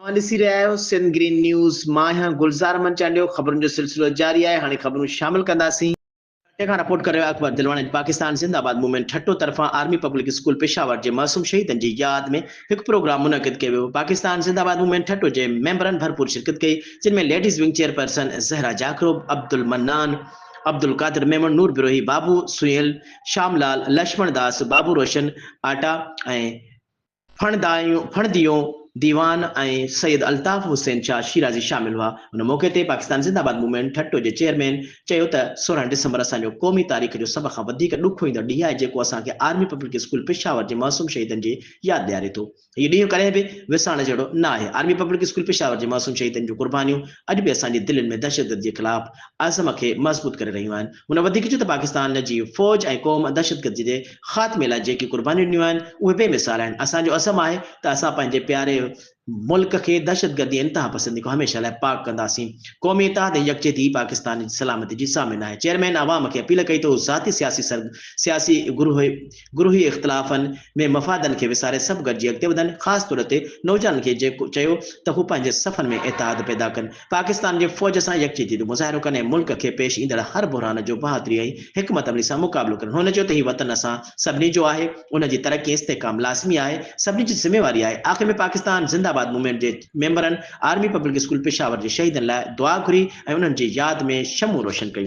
اوهان ڏسي رهيا آهيو سنڌ گرين نيوز مان آهيان گلزار احمد چانڊيو خبرن جو سلسلو جاري آهي هاڻي خبرون شامل ڪنداسين. ٺٽي کان رپورٽ ڪري رهيو آهي اڪبر دلواڻي پاڪستان زنده آباد موومينٽ ٺٽو طرفان آرمي پبلڪ اسڪول پشاور جي معصوم شهيدن جي ياد ۾ هڪ پروگرام منعقد ڪيو ويو پاڪستان زنده آباد موومينٽ ٺٽو جي ميمبرن ڀرپور شرڪت ڪئي جن ۾ ladies wing chairperson Zahra جاکروب Abdul Mannan Abdulqadir Memon Noor Brohi Babu Sunil شام لال لشمڻ داس بابو روشن آٽا ۽ ڦڻڌيو ديوان ۽ سيد الطاف حسين شاهه شيرازي شامل هئا. ان موقعي تي پاڪستان زنده آباد موومينٽ ٺٽو جي چيئرمين چيو ته سورهن ڊسمبر اسان جو قومي تاريخ جو سڀ کان وڌيڪ ڏک هوئيندڙ ڏينهن آهي جيڪو اسان کي آرمي پبلڪ اسڪول پشاور جي معصوم شهيدن جي ياد ڏياري ٿو. هي ڏينهن ڪڏهن به وسارڻ جهڙو نه آهي. آرمي پبلڪ اسڪول پشاور جي معصوم شهيدن جون قربانيون اڄ به اسان جي دلين ۾ دهشتگردي جي خلاف عزم کي مضبوط ڪري رهيون آهن. هن وڌيڪ چيو ته پاڪستان جي فوج ۽ قوم دهشتگردي جي خاتمي لاء جيڪي قربانيون ڏنيون آهن اهي بي مثال آهن، اسان جو عزم آهي ته اسان پنهنجي پياري ملڪ کي دهشتگردي ۽ انتهاپسندي کان هميشه لاء پاڪ ڪنداسين، قومي اتحاد ۽ يڪجهتي ئي پاڪستان جي سلامتي جي ضامن آهي، چيئرمين عوام کي اپيل ڪئي ته هو ذاتي سياسي سياسي گروهي. گروهي اختلافن ۾ مفادن کي وساري سڀ گڏجي اڳتي وڌن، خاص طور تي نوجوانن کي چيو ته هو پنهنجي صفن ۾ اتحاد پيدا ڪن، پاڪستان جي فوج سان يڪجهتي جو مظاهرو ڪن ۽ ملڪ کي پيش ايندڙ هر بحران جو بهادري ۽ حڪمت عملي سان مقابلو ڪن. هن چيو ته هي وطن اسان سڀني جو آهي، ان جي ترقي ۽ استحڪام لازمي آهي، سڀني جي ذميواري آهي. آخر ۾ پاڪستان زنده آباد موومينٽ جي ميمبرن آرمي پبلڪ اسڪول پشاور جي شهيدن لاء دعا گهري ۽ انهن جي ياد ۾ شمعون روشن ڪيون.